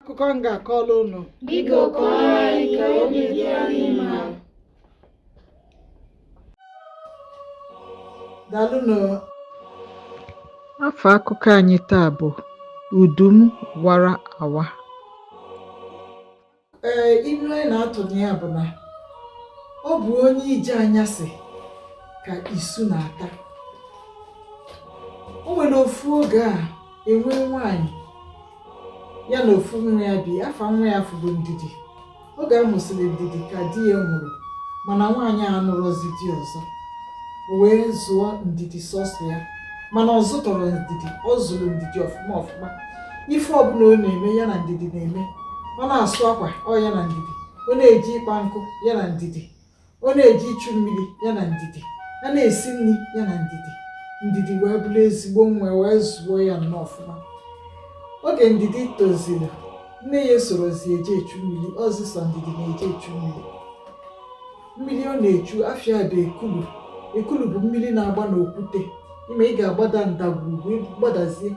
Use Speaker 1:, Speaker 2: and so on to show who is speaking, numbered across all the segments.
Speaker 1: akụkọ m ga-akọrọ unu Biko kọọrọ anyị ka obi dị anyị mma. dalụnụ afa akụkọ anyị taa bụ udu m wara awa ee ilu anyị na-atụ na ya bụ na ọ bụ onye ije anyasị ka isu na-ata o nwere ofu oge a e nwe nwaanyị ya na ofu nwa ya bi afa nwa ya afụ bụ ndidi oge a mụsịrị ndidi ka di ya nwụrụ mana nwaanyị a anụrọzi di ọzọ o wee zụọ ndidi sọsọ ya mana ọ zụtọrọ ndidi ọ zụrụ ndidi ọfụma ọfụma ife ọbụla ọ na-eme ya na ndidi na-eme ọ na-asụ akwa ọ ya na ndidi ọ na-eje ịkpa nkụ ya na ndidi ọ na-eje ichu mmiri ya na ndidi a na-esi nri ya na ndidi ndidi wee bụrụ ezigbo nwa wee zụọ ya nnọọ ọfụma oge ndidi toziri nne ya esorozi eje echu mmiri ọ zị sọ ndidi na-eje echu mmiri mmiri ọ na-echu afa ya dị ekulu ekulu bụ mmiri na-agba n'okwute ị ma ị ga-agbada ndagwurugwu gbadazie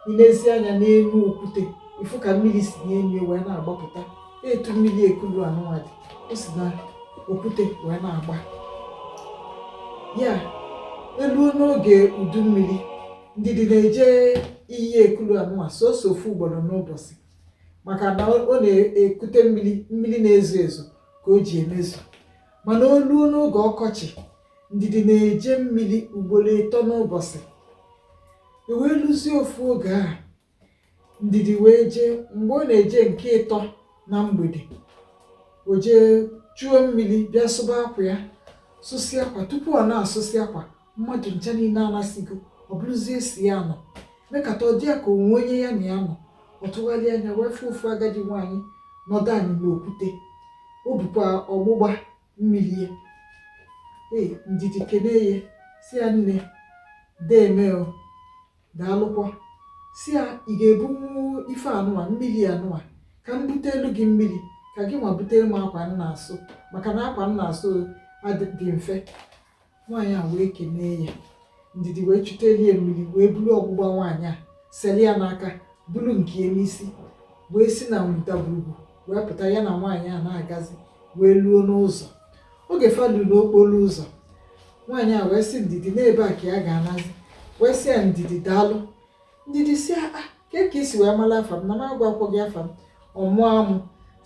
Speaker 1: i nezie anya n'enu okwute ị fụ ka mmiri si n'enu wee na-agbapụta etu mmiri ekulu anụnwa dị o si na okwute wee na-agba ya e luo n'oge udu mmiri ndidi na-eje iyi ekulu anụnwa sọsọ ofu ugboro n'ụbọsị maka na ọ na-ekute mmiri mmiri na-ezo ezo ka o ji emezu mana o luo n'oge ọkọchị ndidi na-eje mmiri ugboro ịtọ n'ụbọsị e wee luzie ofu oge a ndidi wee jee mgbe ọ na-eje nke ịtọ na mgbede o jee chuo mmiri bịa sụba akwa ya sụsịa akwa tupu ọ na-asụsị akwa mmadụ ncha niine anasịgo ọ bụrụzie sọ ya nọ mekata ọ dị ya ka o nwe onye ya na ya nọ ọ tụgharị anya wee fụ ofu agadi nwaanyị nọdụ anị n'okwute o bukwa ọgbụgba mmiri ya ee ndidi kenee ya sị ya nne deeme o daalụkwa sị ya ị ga-ebunwu ife anụwa mmiri anụwa ka m buteelu gị mmiri ka gị nwa buteelu m akwa m na-asụ maka na akwa m na-asụ dị mfe nwaanyị a wee kenee ya ndidi wee chuteelu ya mmiri wee buru ọgbụgba nwaanyị a seli ya n'aka buru nke ya n'isi wee si na ndagwurugwu wee pụta ya na nwaanyị a na-agazi wee luo n'ụzọ oge fa lu n'okporo ụzọ nwaanyị a wee sị ndidi na ebe a ka ya ga-anazi wee sị ya ndidi daalụ ndidi sị ya ah, ke ka i si wee mara afa m na m agwakwọ gị afa m ọ mụọ amụ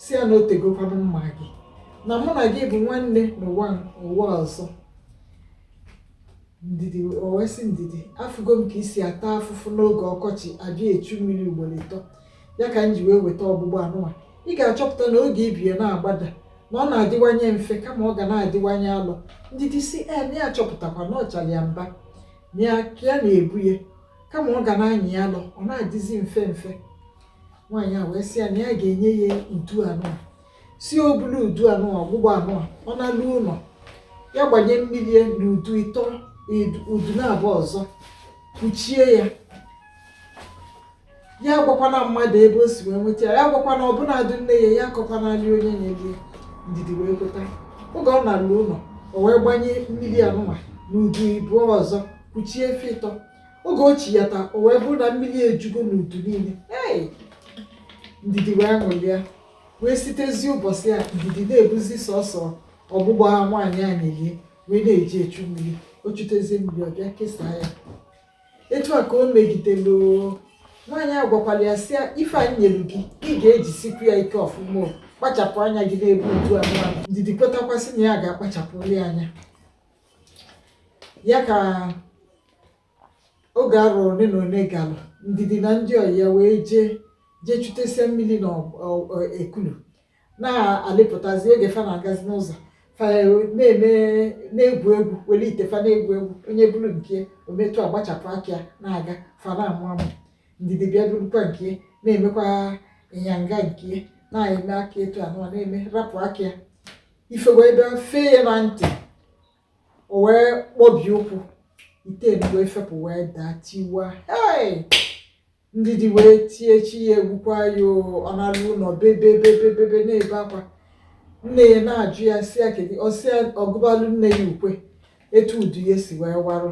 Speaker 1: sị ya na o tegokwanụ m ma gị na mụ na gị bụ nwanne n'ụwa ụwa ọzọ ndidi o wee sị ndidi afụgo m ka i si ata afụfụ n'oge ọkọchị abịa echu mmiri ugboro ịtọ ya ka m ji wee weta ọgbụgba anụnwa ị ga-achọpụta na oge i bu ya na-agbada na ọ na-adịwanye mfe kama ọ ga na-adịwanye alọ ndidi sị ee ya achọpụtakwa na ọchara ya mba ya ka ya na-ebu ya kama ọ ga na-anyị ya alọ ọ na-adịzi mfe mfe nwaanyị a wee sị ya na ya ga-enye ya udu anụa sị o bulu udu anụa ọgbụgba anụa ọ nalu ụlọ ya gbanye mmiri ya na udu ịtọ udu naabọ ọzọ kpuchie ya ya gwakwana mmadụ ebe o si wee nweta ya ya gwakwana ọbụnadị nne ya ya akọkwanali onye nyeli ndidi wee kweta oge ọ nalu ụlọ o wee gbanye mmiri anụwa n'udu ịbụọ ọzọ kpuchie fa ịtọ oge o chi ya taa o wee bụrụ na mmiri ejugo n'udu niile ee ndidi wee ṅụlịa wee sitezi ụbọchị a ndidi na-ebuzi sọsọ ọgbụgba nwaanyị a nyeli ya wee na-eje echu mmiri o chutezie mmiri ọ bịa kesaa ya etu a ka o megidelu nwaanyị a gwakwara ya sị ife anyị nyere gị ka ị ga-ejisikwa ya ike ọfụma kpachapụ anya gị n'ebe udu anụnwa ndidi kwetakwa sị na ya ga-akpachapụli anya ya ka oge arọ ole na ole gara ndidi na ndị ọyị ya wee jee jee chutesịa mmiri na ekulu na-alịpụtazi oge fa na-agazi n'ụzọ fa na-eme na-egwu egwu were ite fa na-egwu egwu onye buru nke o mee etu a gbachapụ aka ya na-aga fa na-amụ amụ ndidi bịa burukwa nke na-emekwa ịnyanga nke na-eme aka etu anụwa na-eme rapụ aka ya ife wee bịa fee ya na ntị o wee kpọbie ụkwụ ite nke ya fepụ wee daa tiwa hei ndidi wee tie chi ya egbukwa ya ọ nalu ụlọ bebe bebe bebe na-ebe akwa nne ya na-ajụ ya sị ya kedu ọ sị ya ọ gụbalụ nne ya ukwe etu udu ya si wee warụ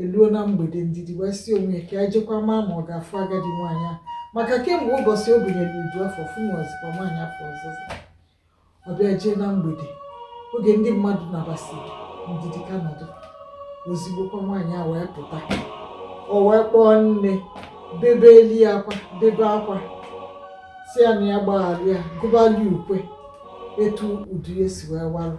Speaker 1: eluo na mgbede ndidi wee sị onwe ya ka ya jekwa maa ma ọ ga-afụ agadi nwaanyị a maka kemgbe ụbọchị o bunyere udu afụ ọ fụnwazikwa nwaanyị afụ ọzọ ọ bịa jee na mgbede oge ndị mmadụ nabasịrị ndidi ka nọdụ ozigbokwa nwaanyị a wee pụta o wee kpọọ nne bebeli akwa bebe akwa sị ya na ya gbaghara ya gụbali ukwe etu udu ya si wee warụ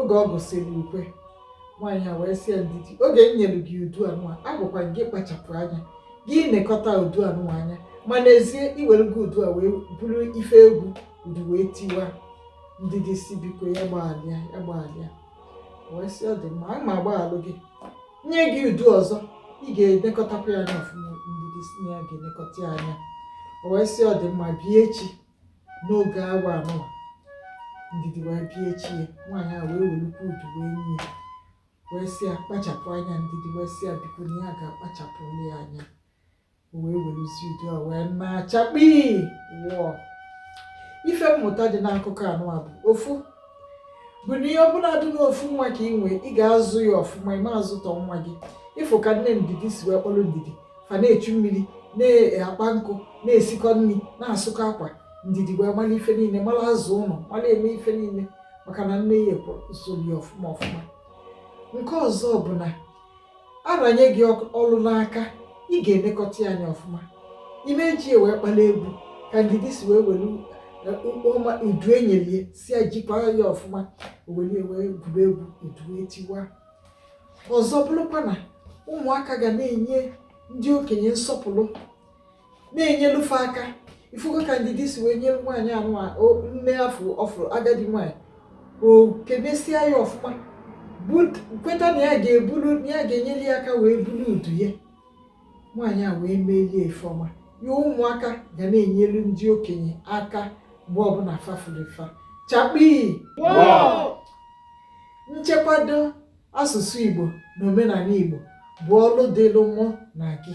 Speaker 1: oge ọ gụsịrị ukwe nwaanyị a wee sị ya ndidi oge m nyere gị udu anụwa agwakwa gị kpachapụ anya gị nekọta udu anụwa anya ma n'ezie i were udu a wee bụrụ ife egwu udu wee tiwa ndidi sị biko ya gbaghalụ ya ya gbaghalụ ya wee sị ọ dị mma aga m agbaghalụ gị nye gị udu ọzọ ị ga-elekọtakwa ya anya ọfụma ndidi sị na ya ga-elekọta ya anya o wee sị ọ dị mma bịa echi n'oge awa anụwa ndidi wee bịa echi ya nwaanyị a wee welukwa udu wee nye ya wee sị ya kpachapụ anya ndidi wee sị ya biko na ya ga-akpachapụ ya anya o wee werezie udu a wee naa chakpii wọọ ife mmụta dị n'akụkọ anụwa bụ ofu bụ na ya bụladị na ofu nwa ka ị nwee ị ga-azụ ya ọfụma ị ma-azụtọ nwa gị ị fụ ka nne ndidi si wee kpọrọ ndidi fa na-echu mmiri na-akpa nkụ na-esikọ nri na-asụkọ akwa ndidi wee mara ife niile mara aza ụlọ mara eme ife niile maka na nne ya ekworo usoro ya ọfụma ọfụma nke ọzọ bụ na a ranye gị ọlụ n'aka ị ga-elekọta ya anya ọfụma ị ma-eji ya wee kpala egwu ka ndidi si wee welu ọma udu e nyelu ya sị ya jikwara ya ọfụma o welu ya wee gwuru egwu udu etiwa ọzọ bụrụkwa na ụmụaka ga na-enye ndị okenye nsọpụrụ na-enyelu fa aka ị fụgo ka ndidi si wee nyere nwaanyị anụwa aka ọ fụrụ agadi nwaanyị o kenesịa ya ọfụma kweta na ya ga-ebulu na ya ga-enyere ya aka wee bulu udu ya nwaanyị a wee melu ya ife ọma ya ụmụaka ga na-enyelu ndị okenye aka mgbe ọbụla fa fụrụ fa chakpii nchekwado asụsụ Igbo na omenala Igbo bụ ọlụ dịlụ mụ na gị